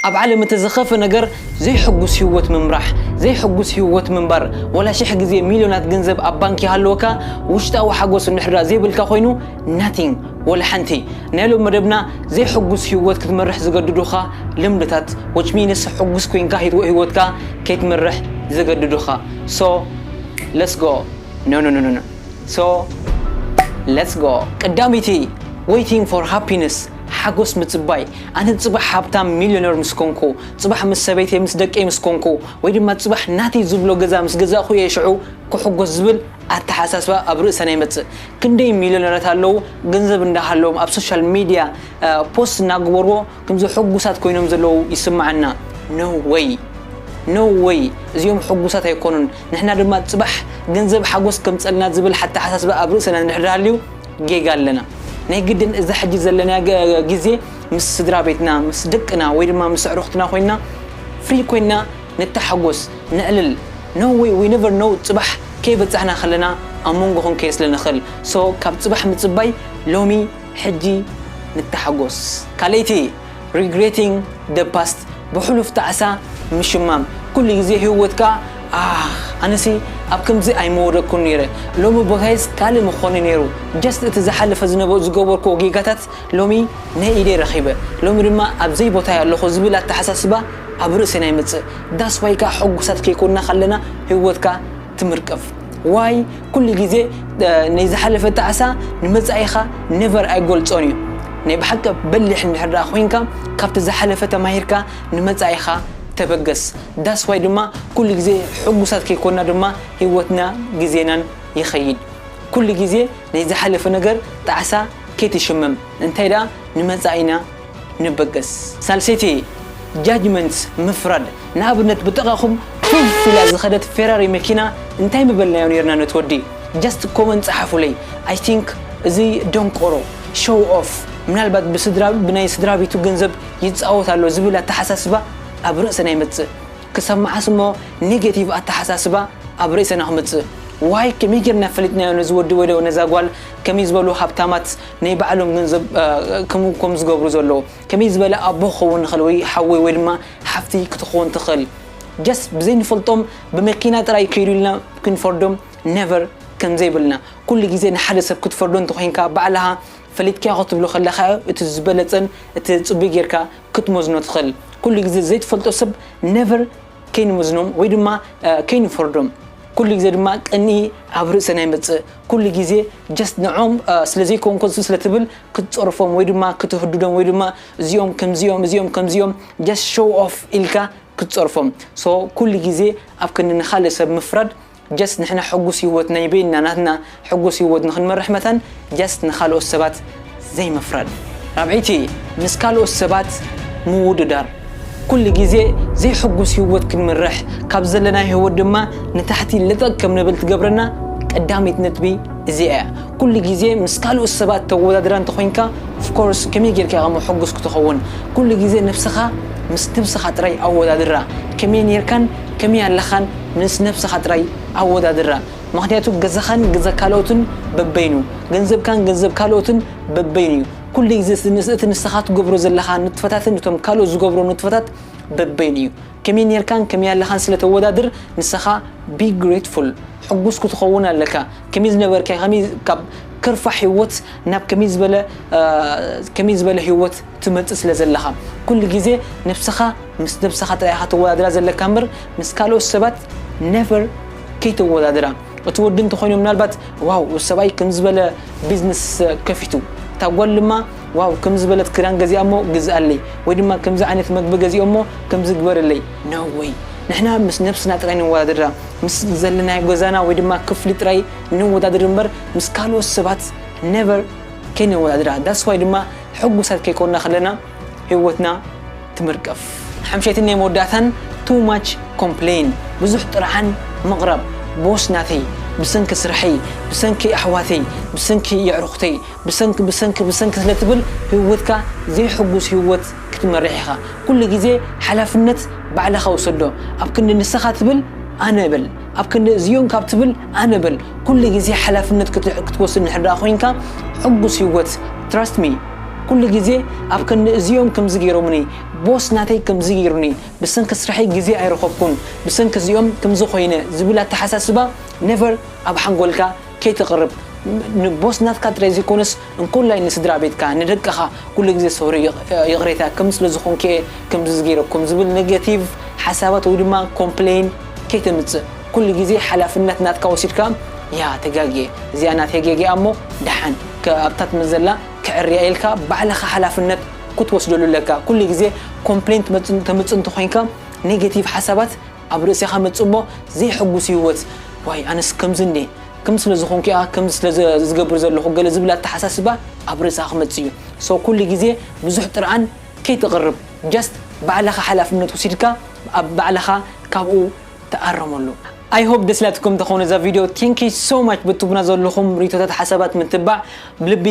ኣብ ዓለም እቲ ዝኸፍእ ነገር ዘይሕጉስ ህይወት ምምራሕ፣ ዘይሕጉስ ህይወት ምንባር። ዋላ ሽሕ ግዜ ሚልዮናት ገንዘብ ኣብ ባንክ ይሃልወካ፣ ውሽጣዊ ሓጎስ እንድሕር ዘይብልካ ኮይኑ Nothing፣ ዋላ ሓንቲ። ናይ ሎሚ መደብና ዘይሕጉስ ህይወት ክትመርሕ ዝገድዱኻ ልምድታት which means ሕጉስ ኮይንካ ህይወ ህይወትካ ከይትመርሕ ዝገድዱኻ so let's go ኖኖኖኖኖ so let's go። ቀዳመይቲ Waiting for Happiness ሓጎስ ምጽባይ፣ ኣነ ጽባሕ ሃብታም፣ ሚልዮነር፣ ምስ ኰንኩ፣ ጽባሕ ምስ ሰበይተይ ምስ ደቀይ ምስ ኰንኩ፣ ወይ ድማ ጽባሕ ናተይ ዝብሎ ገዛ ምስ ገዛእኩ እየ ሽዑ ክሕጐስ ዝብል ኣተሓሳስባ ኣብ ርእሰና ይመጽእ። ክንደይ ሚልዮነራት ኣለዉ፣ ገንዘብ እንዳሃለዎም ኣብ ሶሻል ሚድያ ፖስት እናገበርዎ ክምዚ ሕጉሳት ኰይኖም ዘለዉ ይስምዓና። No way! No way! እዚኦም ሕጉሳት ኣይኰኑን። ንሕና ድማ ጽባሕ ገንዘብ ሓጐስ ከምጽኣልና ዝብል ሓተሓሳስባ ኣብ ርእሰና እንድሕር ሃልዩ፣ ጌጋ ኣለና ናይ ግድን እዛ ሕጂ ዘለናያ ግዜ ምስ ስድራ ቤትና ምስ ደቅና ወይ ድማ ምስ ኣዕሩኽትና ኮይና ፍሪ ኮይና ንተሓጎስ ነዕልል no way we never know ጽባሕ ከይበጻሕና ከለና ኣብ መንጎ ክንከይድ ስለ ንኽእል so ካብ ጽባሕ ምጽባይ ሎሚ ሕጂ ንተሓጎስ ካልኣይቲ Regretting the past ብሕሉፍ ጣዕሳ ምሽማም ኩሉ ግዜ ሂወትካ ኣሕ ኣነሲ ኣብ ከምዚ ኣይምወደኩን ኔረ ሎሚ ቦታይስ ካልእ ምኮነ ኔሩ just እቲ ዝሓለፈ ዝነበ ዝገበርኩዎ ጌጋታት ሎሚ ናይ ኢደይ ረኪበ ሎሚ ድማ ኣብ ዘይ ቦታይ ኣለኩ ዝብል ኣተሓሳስባ ኣብ ርእስና ይመጽእ that's why ከኣ ሕጉሳት ከይኮና ከለና ሂወትካ ትምርቅፍ why ኩሉ ግዜ ናይ ዝሓለፈ ጣዕሳ ንመጻኢኻ ነቨር ኣይገልጾን እዩ ናይ ብሓቂ በሊሕ እንድሕር ደኣ ኮይንካ ካብቲ ዝሓለፈ ተማሂርካ ንመጻኢኻ ተበገስ ዳስ ዋይ ድማ ኩሉ ግዜ ሕጉሳት ከይኮንና ድማ ህይወትና ግዜናን ይኸይድ ኩሉ ግዜ ናይ ዝሓለፈ ነገር ጣዕሳ ከይትሽመም እንታይ ደኣ ንመጻኢና ንበገስ። ሳልሰይቲ፣ Judgments፣ ምፍራድ፣ ንኣብነት ብጥቓኹም ፑፍ ኢላ ዝኸደት ፌራሪ መኪና እንታይ ምበልናዮ ኔርና ነቲ ወዲ? Just comment ጸሓፉለይ I think እዚ ደንቆሮ፣ Show off፣ ምናልባት ብስድራ ብናይ ስድራቤቱ ገንዘብ ይጻወት ኣሎ ዝብል ኣተሓሳስባ ኣብ ርእሰና ይመጽእ ክሳብ መዓስ እሞ ኔጌቲቭ ኣተሓሳስባ ኣብ ርእሰና ክመጽእ ዋይ ከመይ ጌርና ፈሊጥናዮ ነዚ ወዲ ወይ ነዛ ጓል ከምይ ዝበሉ ሃብታማት ናይ ባዕሎም ገንዘብ ከምኡ ከም ዝገብሩ ዘለዉ ከመይ ዝበለ ኣቦ ክኸውን ይኽእል ወይ ሓወይ ወይ ድማ ሓፍቲ ክትኸውን ትኽእል ጀስት ብዘይንፈልጦም ብመኪና ጥራይ ከይዱ ኢልና ክንፈርዶም ነቨር ከም ዘይብልና ኩሉ ግዜ ንሓደ ሰብ ክትፈርዶ እንተኮይንካ ባዕልኻ ፈሊጥካ ክትብሎ ከለካ እቲ ዝበለጸን እቲ ጽቡይ ጌርካ ክትመዝኖ ትኽእል ኩሉ ግዜ ዘይትፈልጦ ሰብ ነቨር ከይንመዝኖም ወይ ድማ ከይንፈርዶም ኩሉ ግዜ ድማ ቅንኢ ኣብ ርእሰና ይመጽእ ኩሉ ግዜ ጀስት ንዖም ስለዘይከውን ከሱ ስለትብል ክትጸርፎም ወይ ድማ ክትህድዶም ወይ ድማ እዚኦም ከምዚኦም እዚኦም ከምዚኦም ጀስት ሾው ኦፍ ኢልካ ክትጸርፎም ሶ ኩሉ ግዜ ኣብ ክንዲ ንኻልእ ሰብ ምፍራድ ጀስት ንሕና ሕጉስ ሂወት ናይ በይንና ናትና ሕጉስ ሂወት ንክንመርሕ መታን ጀስት ንካልኦት ሰባት ዘይምፍራድ ራብዐይቲ ምስ ካልኦት ሰባት ምውድዳር ኩሉ ግዜ ዘይሕጉስ ሂወት ክንምርሕ ካብ ዘለናዮ ሂወት ድማ ንታሕቲ ለጠጥ ከም ንብል ትገብረና ቀዳመይቲ ነጥቢ እዚኣ እያ ኩሉ ግዜ ምስ ካልኦት ሰባት ተወዳድራ እንተኮይንካ ፍኮርስ ከመይ ጌርካ ኢካ እሞ ሕጉስ ክትከውን ኩሉ ግዜ ነብስካ ምስ ነብስካ ጥራይ ኣወዳድራ ከመይ ኔርካን ከመይ ኣለካን ምስ ነብስኻ ጥራይ ኣወዳድራ ምኽንያቱ ገዛኻን ገዛ ካልኦትን በበይኑ ገንዘብካን ገንዘብ ካልኦትን በበይኑ እዩ ኩሉ ግዜ ምስ እቲ ንስኻ ትገብሮ ዘለኻ ንጥፈታትን እቶም ካልኦት ዝገብሮ ንጥፈታት በበይኑ እዩ ከመይ ኔርካን ከመይ ኣለኻን ስለ ተወዳድር ንስኻ be grateful ሕጉስ ክትኸውን ኣለካ ከመይ ዝነበርካዮ ከመይ ካብ ከርፋሕ ሂወት ናብ ከመይ ዝበለ ከመይ ዝበለ ሂወት ትመጽእ ስለ ዘለኻ ኩሉ ግዜ ነብስኻ ምስ ነብስኻ ጥራይ ኢኻ ተወዳድራ ዘለካ እምበር ምስ ካልኦት ሰባት never ከይተወዳድራ እቲ ወዲ እንተኾይኑ ምናልባት ዋው እዚ ሰብኣይ ከምዚ ዝበለ ቢዝነስ ከፊቱ እታ ጓል ድማ ዋው ከምዚ ዝበለት ክዳን ገዚኣ እሞ ግዝኣለይ ወይ ድማ ከምዚ ዓይነት መግቢ ገዚኦ እሞ ከምዚ ግበርለይ no way ንሕና ምስ ነብስና ጥራይ ንወዳድራ ምስ ዘለናዮ ገዛና ወይ ድማ ክፍሊ ጥራይ ነወዳድር እምበር ምስ ካልኦት ሰባት never ከይነወዳድራ that's why ድማ ሕጉሳት ከይኮና ከለና ሂወትና ትምርቀፍ። ሓምሸይትን ናይ መወዳእታን too much complain ብዙሕ ጥርዓን ምቕራብ ቦስ ናተይ ብሰንኪ ስርሐይ ብሰንኪ ኣሕዋተይ ብሰንኪ የዕሩኽተይ ብሰንኪ ብሰንኪ ብሰንኪ ስለ ትብል ሂወትካ ዘይሕጉስ ሂወት ክትመርሕ ኢኻ ኩሉ ግዜ ሓላፍነት ባዕልኻ ውሰዶ ኣብ ክንዲ ንስኻ ትብል ኣነ እብል ኣብ ክንዲ እዚኦም ካብ ትብል ኣነ በል። ኩሉ ግዜ ሓላፍነት ክትወስድ እንድሕር ደኣ ኮይንካ ሕጉስ ሂወት Trust me ኩሉ ግዜ ኣብ ክንዲ እዚኦም ከምዚ ጌሮምኒ ቦስ ናተይ ከምዚ ጌሩኒ ብሰንኪ ስርሐይ ግዜ ኣይረኸብኩን ብሰንኪ እዚኦም ከምዚ ኮይነ ዝብል ኣተሓሳስባ Never ኣብ ሓንጎልካ ከይተቅርብ ንቦስ ናትካ ጥራይ ዘይኮነስ እንኮላይ ንስድራቤትካ ንደቅኻ ኩሉ ግዜ ሶሪ ይቅሬታ ከም ስለ ዝኾንኪ እየ ከምዚ ገይረኩም ዝብል ነገቲቭ ሓሳባት ወይ ድማ ኮምፕለይን ከይተምጽእ ኩሉ ግዜ ሓላፍነት ናትካ ወሲድካ ያ ተጋግየ እዚኣ ናተይ ጌጋ እያ እሞ ደሓን ከ ኣብታ ትመዘላ ከዕርያ እየ ኢልካ ባዕልኻ ሓላፍነት ክትወስደሉ ኣለካ ኩሉ ግዜ ኮምፕለይን ተምጽእ እንተኾይንካ ነገቲቭ ሓሳባት ኣብ ርእሴኻ መጹ እሞ ዘይሕጉስ ህይወት ዋይ ኣነስ ከምዚ እንድየ ከምዚ ስለ ዝኾንኩ'ያ ከምዚ ስለ ዝገብር ዘለኹ ገለ ዝብል ኣተሓሳስባ ኣብ ርእስኻ ክመጽእ እዩ so ኩሉ ግዜ ብዙሕ ጥርዓን ከይተቕርብ just ባዕልኻ ሓላፍነት ወሲድካ ኣብ ባዕልኻ ካብኡ ተኣረመሉ። I hope ደስ ኢላትኩም ተኾኑ እዛ ቪድዮ Thank you so much በትቡና ዘለኹም ሪቶታት ሓሳባት ምትባዕ ብልቢ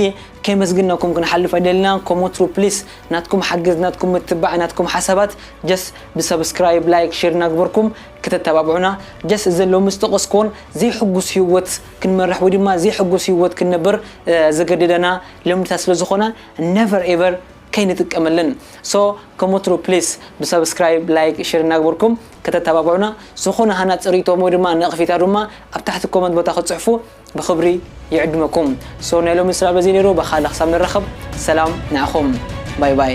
ከይመስግንናኩም ክንሓልፍ ኣይደልናን ከም ወትሩ ፕሊስ ናትኩም ሓገዝ ናትኩም ምትባዕ ናትኩም ሓሳባት ጀስ ብሰብስክራይብ ላይክ ሼር እናግበርኩም ክተተባብዑና ጀስ እዘን ሎሚ ዝጠቀስክዎን ዘይሕጉስ ሂወት ክንመርሕ ወይ ድማ ዘይሕጉስ ሂወት ክንነብር ዘገድደና ልምድታት ስለ ዝኮና ነቨር ኤቨር ከይንጥቀመለን ሶ ከም ወትሩ ፕሊስ ብሰብስክራይብ ላይክ ሼር እናግበርኩም ክተተባብዑና ዝኮነ ሃናጺ ሪኢቶ ወይ ድማ ነቅፌታ ድማ ኣብ ታሕቲ ኮመንት ቦታ ክትጽሕፉ ብኽብሪ ይዕድመኩም so ናይ ሎሚ ስራ በዚ ነይሩ በካልእ ክሳብ ንራኸብ ሰላም ንዓኹም ባይ ባይ።